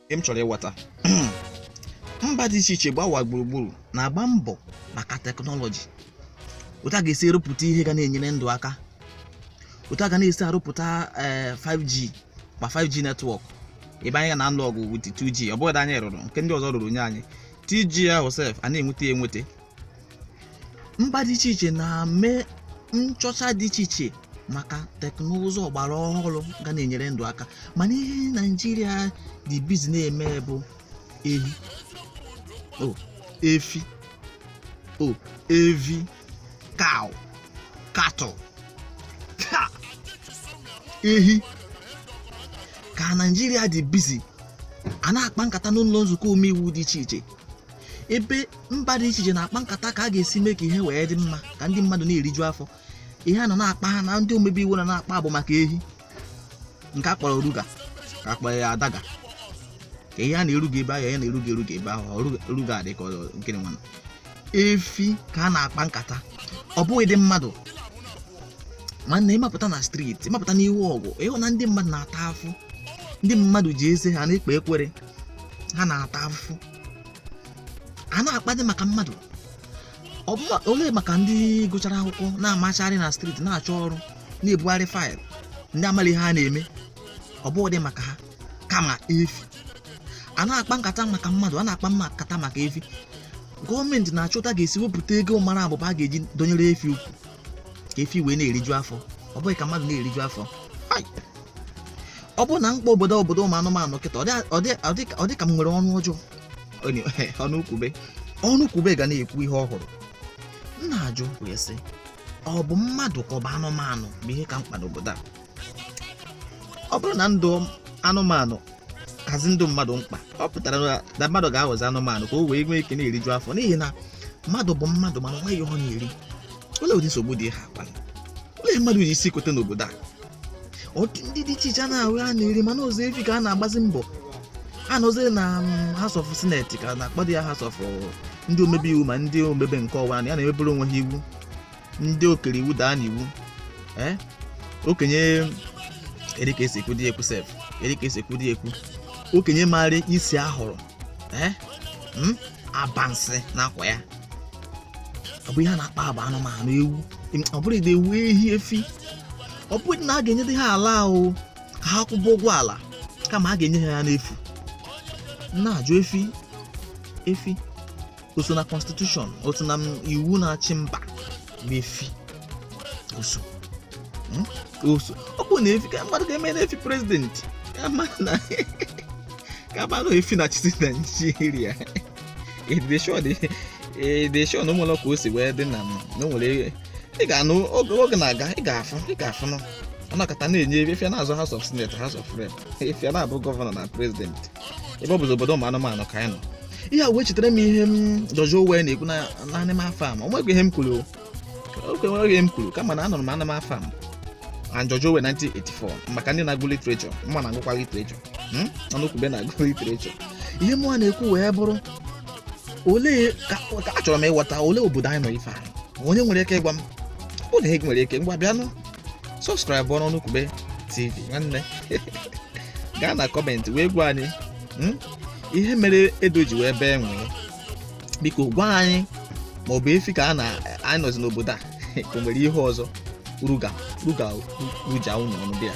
m chọrọ ịghọta mba dị iche iche gbawa gburugburu na-agba mbọ maka teknọlọji otu a ga-esi arụpụta ihe ga na-enyere ndụ aka otu a ga na-esi arụpụta 5G eh, ma 5G netwọk ebe anyị ka na-alụ ọgụ with 2G ọ bụghị anyị rụrụ nke ndị ọzọ rụrụ nye anyị 2G ahụ sef a na-enweta ya enweta mba dị iche iche na-eme nchọcha dị iche iche maka teknụzụ ọgbara ọhụrụ ga na-enyere ndụ aka mana ihe naijiria dị bizi na-eme bụ ehi o efi o evi cow cattle Ha! ehi ka naijiria dị bizi a na-akpa nkata n'ụlọ nzukọ omeiwu dị iche iche ebe mba dị iche iche na-akpa nkata ka a ga-esi mee ka ihe wee dị mma ka ndị mmadụ na-eriju afọ ihe a nọ na-akpa ha na ndị omebe iwu nọ na-akpa bụ maka ehi nke a kpọrọ ruga ka a kpọrọ ya adaga ka ihe a na-eruga ebe ahụ ya na-eruga eruga ebe ahụ ọruga- ruga dị ka ọ- nkịrị nwana efi ka a na-akpa nkata ọ bụghịdị mmadụ nwanne ị mapụta na streeti ị mapụta n'ihu ọgwụ ị hụ na ndị mmadụ na-ata afụ ndị mmadụ ji eze ha na-ekpe ekwere ha na-ata afụfụ a na-akpadị maka mmadụ ọ bụ ma- olee maka ndị gụchara akwụkwọ na-amachagharị na streeti na-achọ ọrụ na-ebugharị faịlụ ndị amaghị ihe ha na-eme ọ bụghịdị maka ha kama efi a na-akpa nkata maka mmadụ a na-akpa nkata maka efi gọọmenti na-achọ otu a ga-esi wepụta ego mara abụba a ga-eji dọnyere efi ukwu ka efi wee na-eriju afọ ọ bụghị ka mmadụ na-eriju afọ ọ bụrụ na m kpọọ obodo obodo ụmụ anụmanụ kịta ọ dị ka m nwere ọnụ ọjọọ ọnụkwube ọnụkwube ga na-ekwu ihe ọ hụrụ m na-ajụ wee sị ọ bụ mmadụ ka ọ bụ anụmanụ bụ ihe ka mkpa n'obodo a ọ bụrụ na ndụ anụmanụ kazi ndụ mmadụ mkpa ọ pụtara na mmadụ ga-aghọzi anụmanụ ka o wee nwee ike na-eriju afọ n'ihi na mmadụ bụ mmadụ mana nweghị ihe ọ na-eri olee ụdị nsogbu dị ha kpara olee mmadụ ji isi kote n'obodo a ọtụ ndị dị iche iche a na-ahụ a na-eri mana ụzọ efi ka a na-agbazi mbọ a nọzi na mm, House of Senate ka a na-akpọdị ya House of ndị omebe iwu ma ndị omebe nke ọwa na ya na-emebere onwe ha iwu ndị okere iwu daa n'iwu ee okenye eri ka esi ekwu dị ekwu sef eri ka esi ekwu dị ekwu okenye maara isi ahụrụ ee m abansị n'akwa ya ọ bụ ihe a na-akpa agba anụmanụ ewu ọ bụrụdị ewu ehi efi ọ bụghị na a ga-enyedị ha ala ahụ ka ha kwụba ụgwọ ala kama a ga-enye ha ya n'efu na-ajụ efi efi o so na constitution o so na m- iwu na-achị mba bụ efi o so Mm? O so. ọ bụrụ na efi ka mmadụ ga-eme na efi prezidenti ka mmadụ na ka mmadụ efi na-achịzi naijiria edeshon edeshon na ụmụlọ ka o si wee dị na m na o nwere ị ga-anụ oge oge na-aga ị ga-afụ ị ga-afụ nụ ọ nakọta na-enye efi a na-azọ house of senate house of rep efi a na-abụ gọvanọ na prezidenti ebe ọ bụzi obodo ụmụ anụmanụ ka anyị nọ ihe a wee chetara m ihe m George Orwell na-ekwu na na Animal Farm o nweghị ihe m kwuru o. o nweghị ihe m kwuru kama na anụrụ m Animal Farm and George Orwell 1984 maka ndị na-agụ literature mụnwa na-agụkwa literature Hmm? Ọnụkwube na-agụ literature ihe mụnwa na-ekwu wee bụrụ olee ka ka achọrọ m ịghọta olee obodo anyị nọ ife a onye nwere ike ịgwa m onye nwere ike ngwa bịanụ sọbskraịbụọrọ Ọnụkwube TV nwanne gaa na kọmentị wee gwa anyị hmm? ihe mere ede ji wee bee nwii biko gwa anyị ma ọ bụ efi ka ya na anyị nọzi n'obodo a ka o nwere ihe ọzọ ruga ruga ruja unu ọnụ bịa